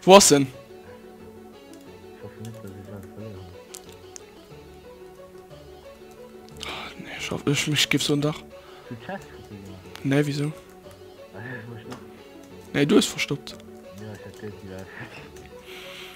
Wo ass en? Schaff ich mich gibt's so ein Dach. Ne, wieso? Ne, du hast verstoppt.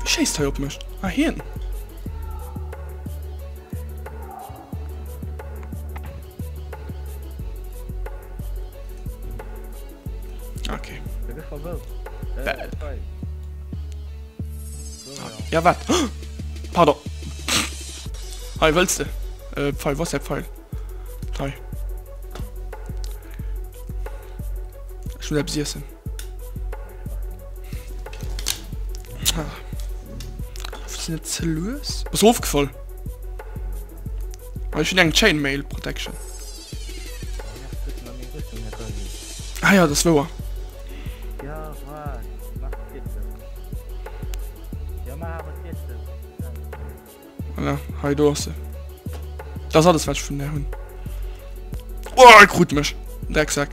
Wie schéisst hei op mech? Ah hien! Okay. Bäh. Ja wat? Pardon. Hei wëlls de? Äh, Pfeil, was der Pfeil? Hei. Ich will etwas essen. net ze lues was ofgefall Ech hun eng Chainmail Protection Ah ja das woer Voilà, hei do ass se. Dat ass alles wat ech vun där hunn. Oh, e krut mech. Drecksack.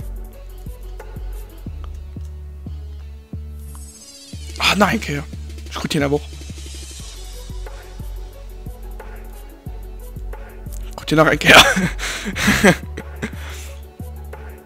Ah, nach eng Kéier. Ech krut hien awer och. Krut hien nach eng Kéier.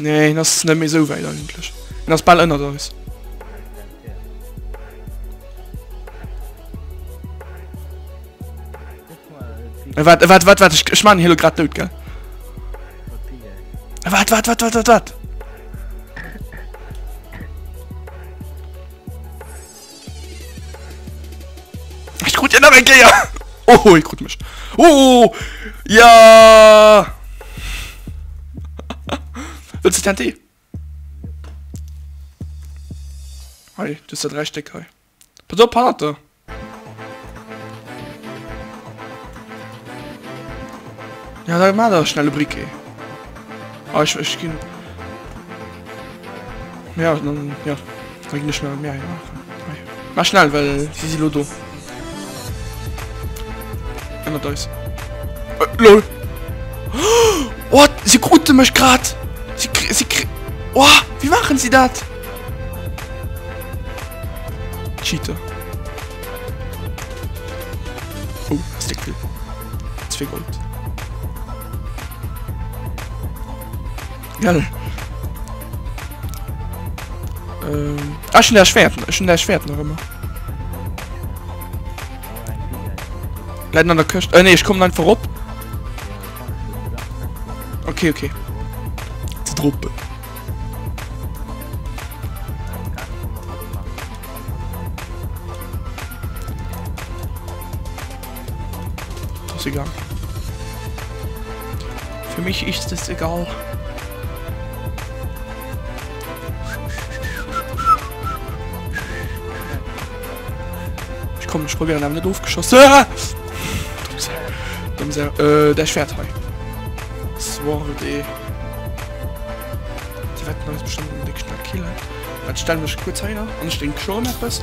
Nee, hien ass net méi sou wäit eigentlech. Hien ass bal ënnert eis. Äh, wat, äh, wat, wat, wat, ich, ich meine Helo grad dout, gell? Äh, wat, wat, wat, wat, wat, wat? Ich krut dir nach eng Kéier. Oh, ich krut mech. Oh, ja. Willst du TNT? Hei, du hast da drei Stück hei. Pass auf, Pate. Ja, dann mach da schnelle Bricke. Ah, ich, ich geh. Ja, dann, ja. Da ginn ech schnell mir eng maachen. Mä schnell, well si si lo do. Ënnert eis. Äh, lol. Oh, si krute mech grad. Si kri, si kri. Oh, wie machen si dat? Cheater. Oh, das Deckel. Zwei Gold. Gell. Ähm, ah, schon der Schwert, schon der Schwert noch immer. Leid an der Küste. Äh, nee, ich komme dann vorup. Okay, okay. Zu Truppe. Ist egal. Für mich ist es egal. Ich komme, ich probiere damit aufgeschossen. Ah! Dumm sehr. Äh, der Schwert hei. Das war die. Die werden wir bestimmt im nächsten Kill. Dann stellen wir kurz her und ich denke schon etwas.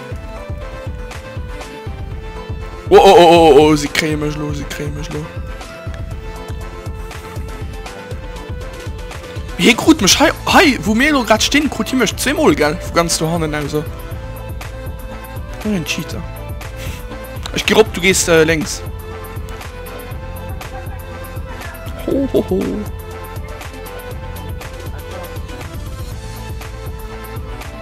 Oh, oh, oh, oh, oh, sie kriegen mich los, sie kriegen mich los. Hier krut mich, hi, hi, wo mir nur gerade stehen, krut hier mich zweimal, gell, wo ganz du Hannen also. Nur ein Cheater. Ich geh rob, du gehst äh, links. Ho, ho, ho.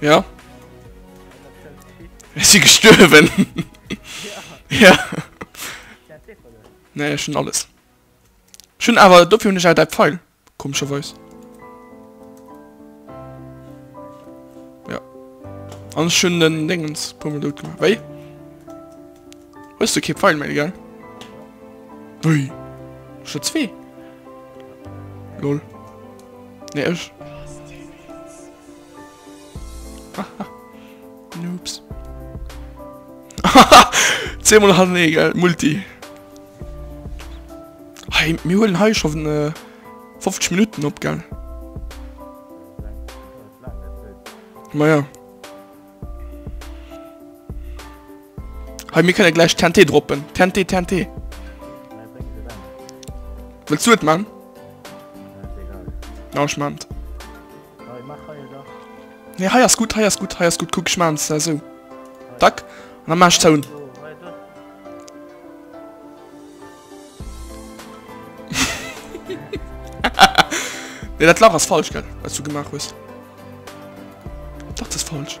Ja. Ist sie gestorben? Ja. ja. Nee, schon alles. Schon aber dafür nicht halt der Pfeil. Komescherweis. Ja. An ech hunn den Déngens puer mol dout gemaach. Wéi? Hues du kee Pfeil méi, gell? Wéi? Ech hu zwee. Lol. Nee, ech. Haha, Noobs. Haha, zweemol Hall nee, gell, Multi. Hey, mir huelen hei scho 50 Minutten op, gell. Maja. Hey, mir kënne gläich TNT droppen. TNT, TNT. Wëlls du et man? Ja, ech man et. Nee, hei ass gutt, hei ass gutt, hei ass gutt. Kuck, ech maachen se esou. Dack. An dann maache ech d'Sound. Nee, dat Lach ass falsch, gell, wat s du gemaach hues. Dach, dat ass falsch.